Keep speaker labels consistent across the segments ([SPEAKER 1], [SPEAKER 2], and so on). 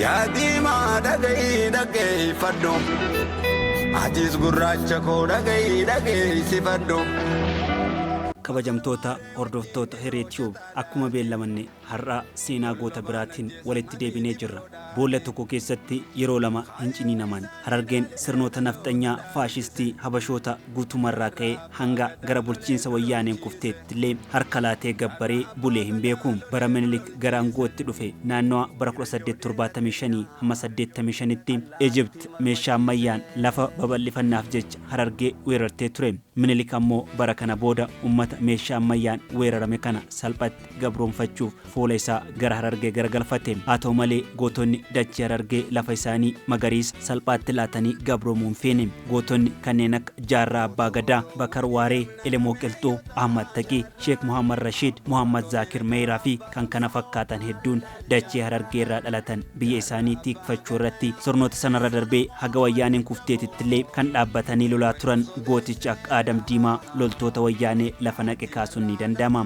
[SPEAKER 1] Yaa diimaa dhaga'i dhaggeeffadhu Atis gurraacha koo dhaga'i dhageessifadhu.
[SPEAKER 2] Kabajamtoota hordoftoota Hiree Tube akkuma beellamanne har'aa seenaa goota biraatiin walitti deebinee jirra. Boolla tokko keessatti yeroo lama hin ciniinaman. Harargeen sirnoota nafxanyaa faashistii Habashoota guutumarraa ka'ee hanga gara bulchiinsa Wayyaaneen kufteettillee harka laatee gabbaree bulee hin beeku. Bara Minilik gara angootti dhufe naannawa bara 1875-85tti Egypt meeshaa ammayyaan lafa babal'ifannaaf jecha Harargee weerartee ture. Minilik ammoo bara kana booda ummata meeshaa ammayyaan weerarame kana salphatti gabroomfachuuf fuula isaa gara Harargee garagalfate. Haa ta'u malee gootonni dachii Harargee lafa isaanii magariisa salphaatti laatanii gabroomuu hin feene. Gootonni kanneen akka Jaarraa Abbaa Gadaa, Bakar Waaree, Elemoo Qilxuu, Ahmad Taqii, Sheek Muhammad Rashiid, Muhammad Zaakir Meeyraa fi kan kana fakkaatan hedduun dachee Harargee irraa dhalatan biyya isaanii tiikfachuu irratti sirnoota sanarra darbee haga wayyaaneen kufteetittillee kan dhaabbatanii lolaa turan gooticha akka Aadam Diimaa loltoota wayyaanee lafa naqe kaasuun ni danda'ama.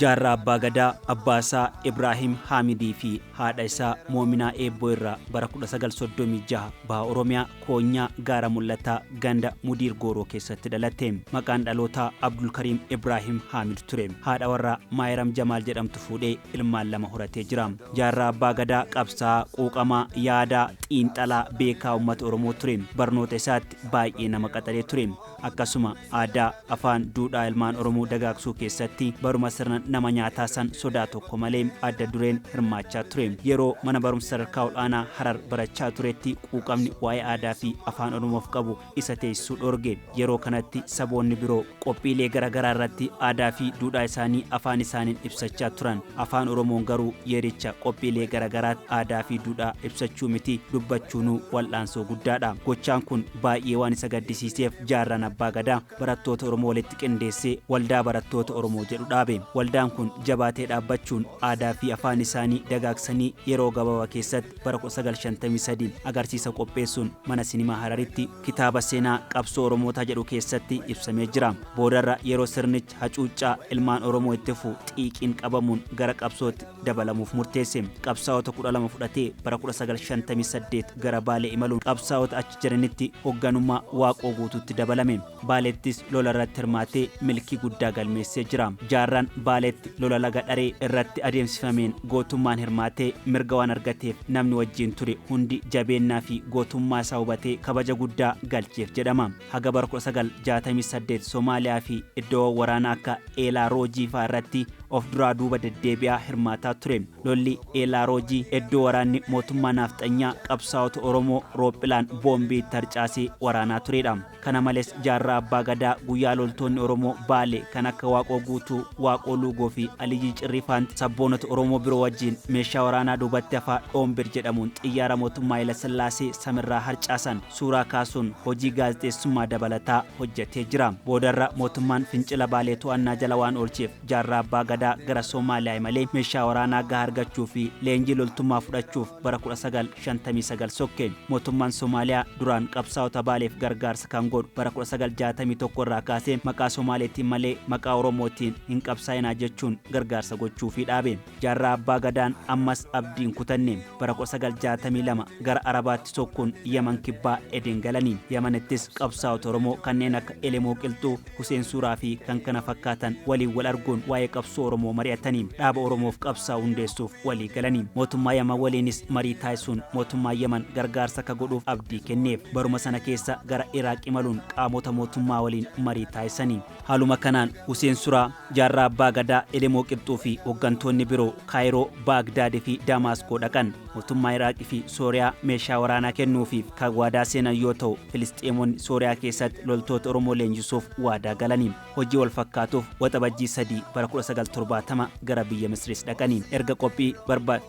[SPEAKER 2] Jaarraa Abbaa Gadaa, abbaa isaa Ibraahim Haamidii fi haadha isaa Moominaa Eebboo irraa bara 1936 Baha Oromiyaa, Koonyaa, Gaara Mul'ataa, Ganda Mudiir Gooroo keessatti dhalatte. Maqaan dhalootaa Abdulkariim Ibraahim Haamid ture. Haadha warraa Maayiram Jamaal jedhamtu fuudhee ilmaan lama horatee jira. Jaarraa Abbaa Gadaa qabsaa'aa, quuqamaa, yaadaa, xiinxalaa, beekaa uummata Oromoo ture. Barnoota isaatti baay'ee nama qaxalee ture. Akkasuma aadaa, afaan, duudhaa ilmaan Oromoo dagaagsuu keessatti baruma sirna nama nyaataa san sodaa tokko malee adda dureen hirmaachaa ture. Yeroo mana barumsa sadarkaa ol'aanaa Harar barachaa turetti quuqamni waa'ee aadaa fi afaan Oromoof qabu isa teessisuu dhoorge. Yeroo kanatti saboonni biroo qophiilee gara garaa irratti aadaa fi duudhaa isaanii afaan isaaniin ibsachaa turan. Afaan Oromoon garuu yeericha qophiilee gara garaatti aadaa fi duudhaa ibsachuu miti dubbachuunuu wal'aansoo guddaadha. Gochaan kun Baay'ee waan isa gaddisiiseef Jaarraan Abbaa Gadaa barattoota Oromoo walitti qindeessee Waldaa Barattoota Oromoo jedhu dhaabe. Waldaan kun jabaatee dhaabbachuun aadaa fi afaan isaanii dagaagsanii yeroo gabaabaa keessatti bara 1953 agarsiisa qopheessuun Mana Sinimaa Hararitti kitaaba Seenaa Qabsoo Oromootaa jedhu keessatti ibsamee jira. Boodarra yeroo sirnichi keessatti hacuuccaa ilmaan Oromoo itti fufu xiiqiin qabamuun gara qabsootti dabalamuuf murteesse. Qabsaa'ota 12 fudhatee bara 1958 gara Baalee imaluun qabsaa'ota achi jiranitti hogganummaa Waaqoo Guutuutti dabalame. Baaleettis lola irratti hirmaatee milkii guddaa galmeessee jira. Jaarraan Baaleetti lola laga Dharee irratti adeemsifameen gootummaan hirmaatee mirga waan argateef namni wajjin ture hundi jabeennaa fi gootummaa isaa hubatee kabaja guddaa galcheef jedhama. Haga bara 1968 Somaaliyaa fi iddoowwan waraanaa akka Eelaa Roojii fa'aa irratti of duraa duuba deddeebi'aa hirmaataa ture. Lolli Eelaa Roojii iddoo waraanni mootummaa naafxanyaa qabsaa'ota Oromoo roophilaan boombii itti harcaasee waraanaa turedha. Kana malees Jaarraa Abbaa Gadaa guyyaa loltoonni Oromoo Baale kan akka Waaqoo Guutuu, Waaqoo Luugoo fi Aliyyii Cirrii faan sabboonota Oromoo biroo wajjin meeshaa waraanaa duubatti hafaa Dhoombir jedhamuun xiyyaara mootummaa Hayila Sillaasee samirraa harcaasan. suuraa kaasuun hojii gaazexeessummaa dabalataa hojjetee jira. Boodarra mootummaan fincila Baalee to'annaa jala waan oolcheef Jaarraa Abbaa Gadaa gara Soomaaliyaa imalee meeshaa waraanaa gahaa argachuu fi leenjii loltummaa fudhachuuf bara 1959 sokke. Mootummaan Soomaaliyaa duraan qabsaa'ota Baaleef gargaarsa kan godhu bara 1961 irraa kaasee maqaa Soomaaleetiin malee maqaa Oromootiin hin qabsaa'inaa jechuun gargaarsa gochuufii dhaabe. Jaarraa Abbaa Gadaan ammas abdii hin kutanne. Bara 1962 gara Arabaatti sokkuun Yaman Kibbaa Eden galani. Yamanittis qabsaa'ota Oromoo kanneen akka Elemoo Qilxuu, Huseen Suuraa fi kan kana fakkaatan waliin wal arguun waa'ee qabsoo Oromoo mari'atani. Dhaaba Oromoof qabsaa'u hundeessuuf walii galani. Mootummaa Yaman waliinis marii taasisuun mootummaan Yaman gargaarsa akka godhuuf abdii kenneef. Baruma sana keessa gara Iraaq imaluun qaamota mootummaa waliin marii taasisani. Haaluma kanaan Huseen Suraa, Jaarraa Abbaa Gadaa, Elemoo Qibxuu fi hoggantoonni biroo Kaayiroo, Baagdaad fi Daamaaskoo dhaqan. Mootummaa Iraaq fi Sooriyaa meeshaa waraanaa kennuufiif kan waadaa seenan yoo ta'u, Filisxeemonni Sooriyaa keessatti loltoota Oromoo leenjisuuf waadaa galani. Hojii wal fakkaatuuf Waxabajjii 3 bara 1970 gara biyya Misriis dhaqani. Erga qophii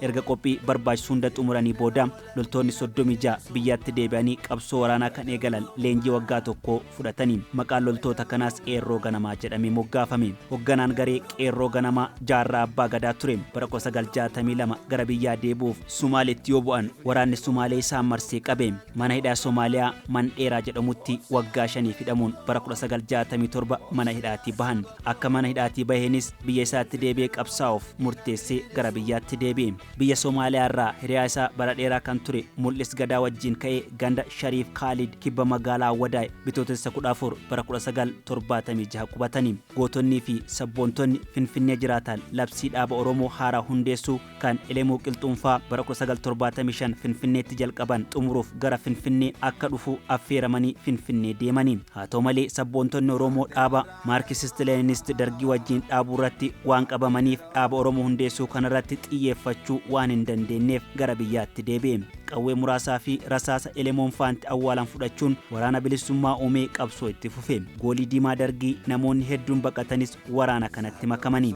[SPEAKER 2] erga qophii barbaachisu hunda xumuranii booda, Loltoonni 36 biyyaatti deebi'anii qabsoo waraanaa kan eegalan leenjii waggaa tokkoo fudhataniin maqaan loltoota kanaas Qeerroo Ganamaa jedhamee moggaafame. Hogganaan garee Qeerroo Ganamaa Jaarraa Abbaa Gadaa ture. Bara 1962 gara biyyaa deebi'uuf Sumaaleetti yoo bu'an waraanni Sumaalee isaan marsee qabe. Mana hidhaa Somaaliyaa Mandheeraa jedhamutti waggaa shaniif hidhamuun bara 1967 mana hidhaatii bahan. Akka mana hidhaatii baheenis biyya isaatti deebi'ee qabsaa'uuf murteessee gara biyyaatti deebi'e. Biyya Somaaliyaa irraa hiriyaa isaa bara dheeraa kan ture Mul'is Gadaa wajjin ka'ee ganda Shariif Kaalid kibba magaalaa Awwadaay Bitootessa 14 bara 1976 qubatani. Gootonnii fi sabboontonni Finfinnee jiraatan labsii dhaaba Oromoo haaraa hundeessuu kan Elemuu Qilxuunfaa bara 1975 Finfinneetti jalqaban xumuruuf gara Finfinnee akka dhufu affeeramanii Finfinnee deemani. Haa ta'u malee sabboontonni Oromoo dhaaba Maarkisist Leeninist Dargii wajjiin dhaabuu irratti waan qabamaniif dhaaba Oromoo hundeessuu kana irratti xiyyeeffachuu waan hin dandeenneef gara biyyaatti deebi'e. Qawwee muraasaa fi rasaasa elemoon faanti awwaalan fudhachuun waraana bilissummaa uumee qabsoo itti fufe. Goolii diimaa Dargii namoonni hedduun baqatanis waraana kanatti makamani.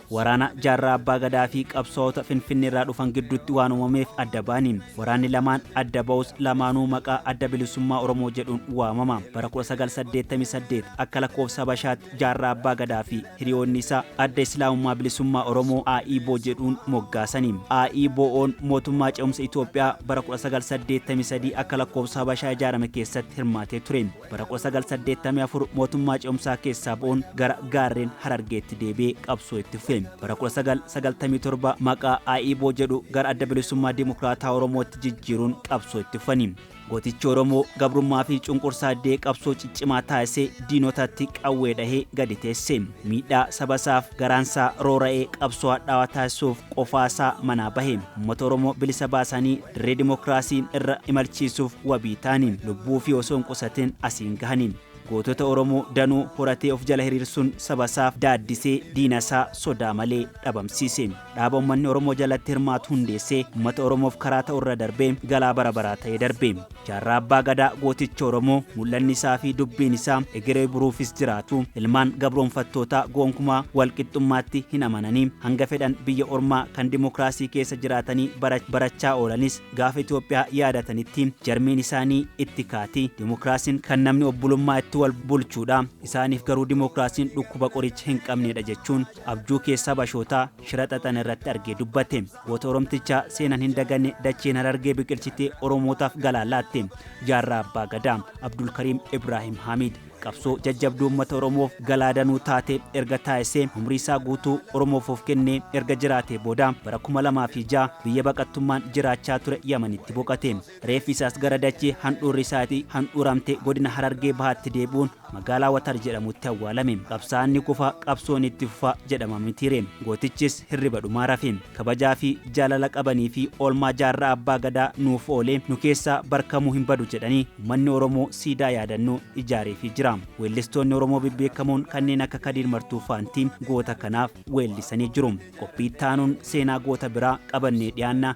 [SPEAKER 2] Waraana Jaarraa Abbaa Gadaa fi qabsaa'ota Finfinneerraa dhufan gidduutti waan uumameef adda ba'ani. Waraanni lamaan adda ba'us lamaanuu maqaa Adda Bilisummaa Oromoo jedhuun waamama. Bara 1988 akka lakkoofsa Habashaatti Jaarraa Abbaa Gadaa fi hiriyoonni isaa Adda Islaamummaa Bilisummaa Oromoo, AIBO, jedhuun moggaasani. AIBOn mootummaa ce'umsa Itoophiyaa bara 1983 akka lakkoofsa Habashaa ijaarame keessatti hirmaatee ture. Bara 1984 mootummaa ce'umsaa keessaa ba'uun gara gaarreen Harargeetti deebi'ee qabsoo itti fufe. Bara 1997 maqaa AIBO jedhu gara Adda Bilisummaa Dimokiraataa Oromootti jijjiiruun qabsoo itti fufani. Gootichi Oromoo gabrummaa fi cunqursaa didee qabsoo ciccimaa taasisee diinotatti qawwee dhahee gadi teesse. Miidhaa saba isaaf garaansaa roora'ee qabsoo hadhaawaa taasisuuf qofaasaa manaa bahe ummata oromoo bilisa baasanii dirree dimokiraasii irra imalchiisuuf wabii taaniin lubbuu fi osoo hin qusatin asiin gahaniin gootota oromoo danuu horatee of jala hiriirsuun sabasaaf daaddisee diinasaa sodaa malee dhabamsiise. Dhaaba ummanni Oromoo jalatti hirmaatu hundeessee ummata Oromoof karaa ta'u irra darbee galaa bara baraa ta'ee darbe. Jaarraa Abbaa Gadaa gooticha Oromoo mul'anni isaa fi dubbiin isaa egeree buruufis jiraatu ilmaan gabroomfattootaa goonkumaa wal qixxummaatti hin amananii hanga fedhan biyya ormaa kan dimokiraasii keessa jiraatanii bara barachaa oolanis gaafa Itoophiyaa yaadatanitti jarmiin isaanii itti kaati. Dimokiraasiin kan namni obbulummaa itti wal bulchuudha. Isaaniif garuu dimokiraasiin dhukkuba qoricha hin qabneedha jechuun Abjuu keessa Habashoota shira xaxan irratti argee dubbate. Goota Oromtichaa seenan hin daganne dacheen Harargee biqilchitee Oromootaaf galaa laatte. Jaarraa Abbaa Gadaa, Abdulkariim Ibraahim Haamiid, qabsoo jajjabduu ummata Oromoof galaa danuu taate erga taasisee umrii isaa guutuu Oromoof of kennee erga jiraatee booda bara 2006 biyya baqattummaan jiraachaa ture Yamanitti boqate. Reeffi isaas gara dachee handhuurri isaatii handhuuramte godina Harargee Bahaatti deebi'uun magaalaa Watar jedhamutti awwaalame. Qabsaa'aan ni kufa, qabsoon itti fufa jedhama mitiiree. Gootichis hirriba dhumaa rafe. Kabajaa fi jaalala qabanii fi oolmaa jaarraa Abbaa Gadaa nuuf oolee nu keessaa bar kamuu hin badu jedhanii ummanni Oromoo siidaa yaadannoo ijaareefii jira. Weellistoonni Oromoo bebbeekamoon kanneen akka Kadiir Martuu faanti goota kanaaf weellisanii jiru. Qophii itti aanuun seenaa goota biraa qabannee dhiyaanna.